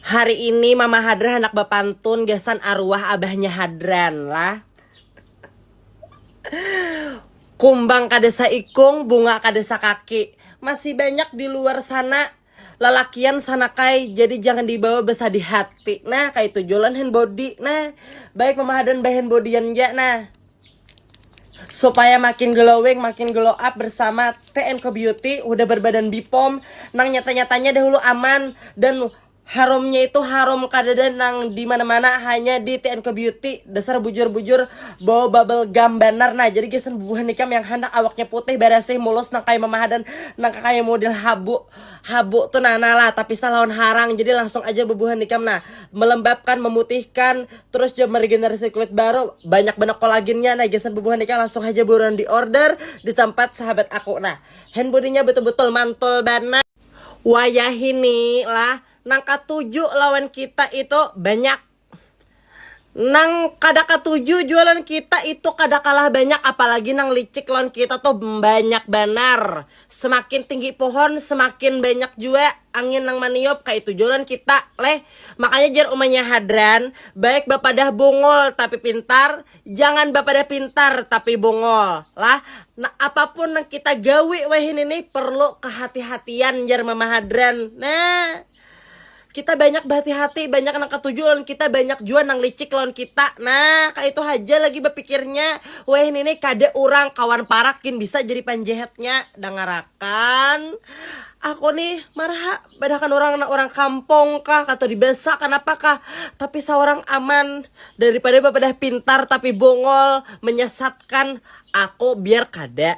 Hari ini mama Hadran handak bapantun gasan aruah abahnya Hadran lah. Kumbang kada saikung, bunga kada sakaki. Masih banyak di luar sana lalakian sanakai jadi jangan dibawa basadih hati. Nah kaitu jua ulun hand body nah. Baik mama Hadran ba hand bodyan ja nah. Supaya makin glowing, makin glow up bersama TNK Beauty udah berbadan Bipom nang nyata-nyatanya dahulu aman dan harumnya itu harum kadada nang di mana-mana hanya di TNK Beauty dasar bujur-bujur bau bubble gum banar nah jadi gasan bubuhan ikam yang handak awaknya putih barasih mulus nang kaya mamahadan nang kaya model habu habu tu nah nah lah tapisah lawan harang jadi langsung aja bubuhan ikam nah melembabkan memutihkan terus jua meregenerasi kulit baru banyak banar kolagennya nah gasan bubuhan ikam langsung haja buruan di order di tempat sahabat aku nah hand bodinya betul-betul mantul banar wayahini lah nang katuju lawan kita itu banyak nang kada katuju jua lawan kita itu kada kalah banyak apalagi nang licik lawan kita tuh banyak banar. Semakin tinggi pohon semakin banyak jua angin nang maniup kaitu jua lawan kita leh. Makanya jar umanya Hadran, baik bapadah bungul tapi pintar, jangan bapadah pintar tapi bungul lah. Nah apapun nang kita gawi wahini nih perlu kehati-hatian jar mama Hadran nah. kita banyak berhati-hati banyak nang ketuju lawan kita banyak jua nang licik lawan kita nah kayak itu haja lagi berpikirnya weh ini kada orang kawan parakin bisa jadi panjehetnya dangarakan aku nih maraha badahakan orang na orang kampung kah atau di desa kenapa kah tapi seorang aman daripada bapadah pintar tapi bongol menyesatkan aku biar kada